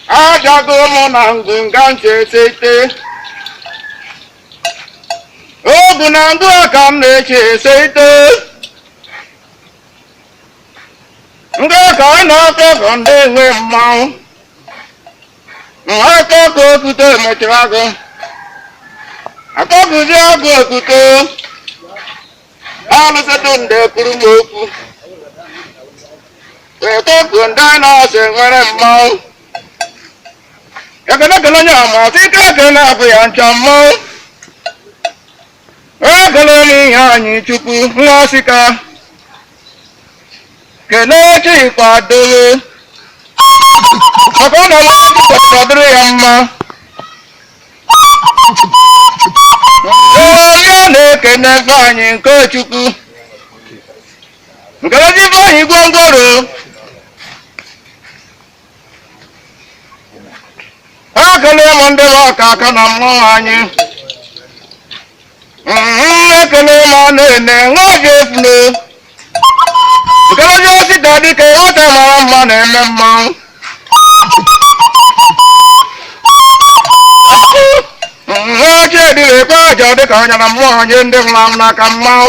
Ajago mụ na ngụnga ntị esete ogu na ngụ ka m na-eche esete ndị ka ọ na-akọ ka ndị na-enwe mmanwụ Nhata ka otuto emechiri agụ. Akọbụzi agụ otuto. Alụsịtụ ndị kwuru m okwu. Ekekwu ndị nọọsụ nwere mmanwụ. Ekene kele onye ọma, ọtụ ike ekele abụ ya ncha mmanwụ. Ekele m Iheanyịchukwu Nwasika kelee Chikwado be maka ọ nọrọ Chukwu kwesịrị ọ dịrị ya mma Ọbịa na-ekene Ifeanyị nke Chukwu nke ezi Ifeanyị gwongworo ekele m ndị bụ ọka aka na mmanwụ anyị Mhm, ekele m a na-ene nwa obi efule nkeleji osi ka dịka ịghọta mara mma na-eme mmanwụ Mhm, oche dịrị ekpe aja dịka ọnya na mmụọ anyị ndị nwụrụ anwụ n'aka mmanwụ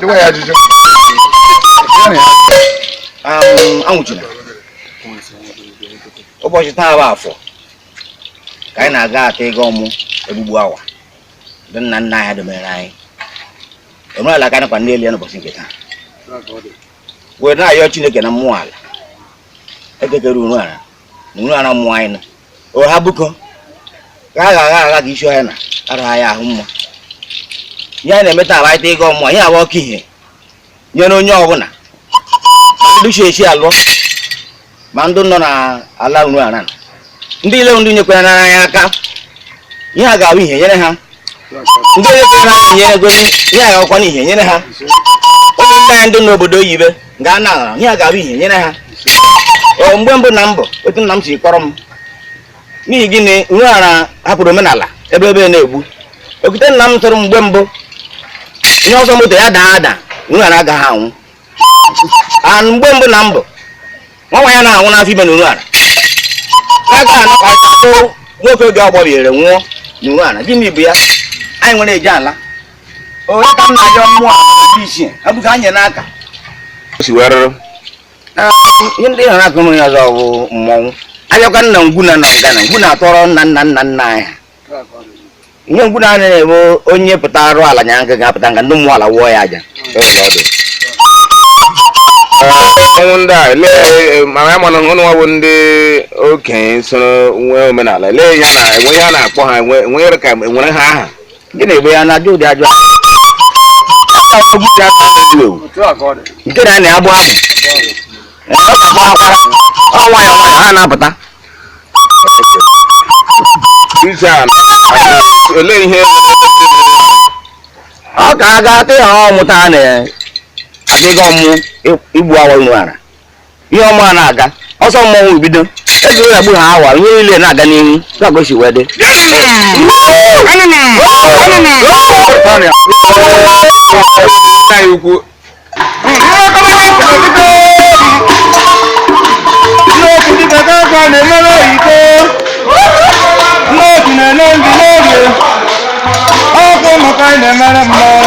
Dịwa ya ajụjụ. Um, anwụchila ụbọchị taa bụ Afọ ka anyị na-aga ata ego ọmụ egbugbu awa ndị nna nna anyị ha domere anyị omenala ka anyị kwa n'elu ya n'ụbọchị nke taa wee na-ayọ chineke na mmụọ ala ekekere Uruala na Uruala mmụọ anyị nọ oha bụko ka a ga-agha agha ka isi ọhịa na araghị ahụ mma ihe a na-eme taa abaịta ịgọ mmụọ ihe a wụ ka ihe nyere onye ọbụla ma ndị chi echi alụọ ma ndị nọ n'ala Uruala ndị ile ndị nyekwara anyị aka ihe a ga-abụ ihe nyere ha ndị nyekwara anyị nyere gozi ihe a ga-awụkwa ihe nyere ha ụmụnne anyị ndị n'obodo oyibo gaa na ala nye ya ga-abụ ihe nyere ha Ọ, mgbe mbụ na mbụ otu nna m si kọọrọ m n'ihi gịnị Uruala hapụrụ omenala ebe ebe na-egbu okwute nna m tụrụ m mgbe mbụ onye ọsọ moto ya daa ada Uruala agaghị anwụ a mgbe mbụ na mbụ nwa nwaanyị na-anwụ n'afọ ime n'Uruala aga anakọta nwoke oge ọgbọbiere nwụọ n'Uruala gịnị bụ ya anyị nwere eji ala onye ka nna ya mmụọ dị iche abụghị anya n'aka o si wee rụrụ ihe ndị hụrụ akụ ya ọzọ bụ mmọnwụ abịakwa nna ngwu na na ngana ngwu na-atọrọ nna nna nna nna anyị ihe ngwu na anaghị ebe onye pụta arụ ala nya nka ga-apụta nka ndị mmụọ ala wụọ ya aja ọnwụ ndị a lee ma ya mana ụnụ nwa bụ ndị okenye soro nwee omenala lee ya na enwe ihe a na-akpọ ha enwe enwe ka enwere ha aha nke na-egbe ya na-ajụ ụdị ajụ ahụ. Aka ọ bụzi aka ọ na-ewu ewu. nke na na agbụ ahụ Ee, ọ ga-agba akwara ọ nwayọọ nwayọọ ha na-apụta Ije a na- olee ihe ọ ka a ga-ata ya ọ mụta na aga ịga ọmụ igbu awa unu ara ihe ọma na-aga ọsọ mmọnwụ ebido eji ụlọ gbu ha awa ihe niile na-aga n'ihu na-aga o si wee dị Ọkụ maka na-emere mmanụ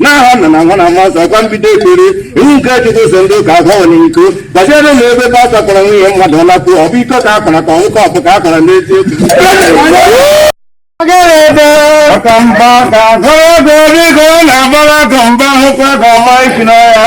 n'aha nna na nwa na mmụọ nsọ ka m bido ekpere iwu nke chukwu sị ndị ụka akwana iko gbaziere na ebe pastọ kpọrọ nwunye mmadụ lakpuo ọ bụ iko ka a kwara ka ọ bụ ọkụ ka a kwara n'eziokwu ọkamba ka agụrụ ego biko na-agbara gọmba hụkwa gọma isi n'ọhịa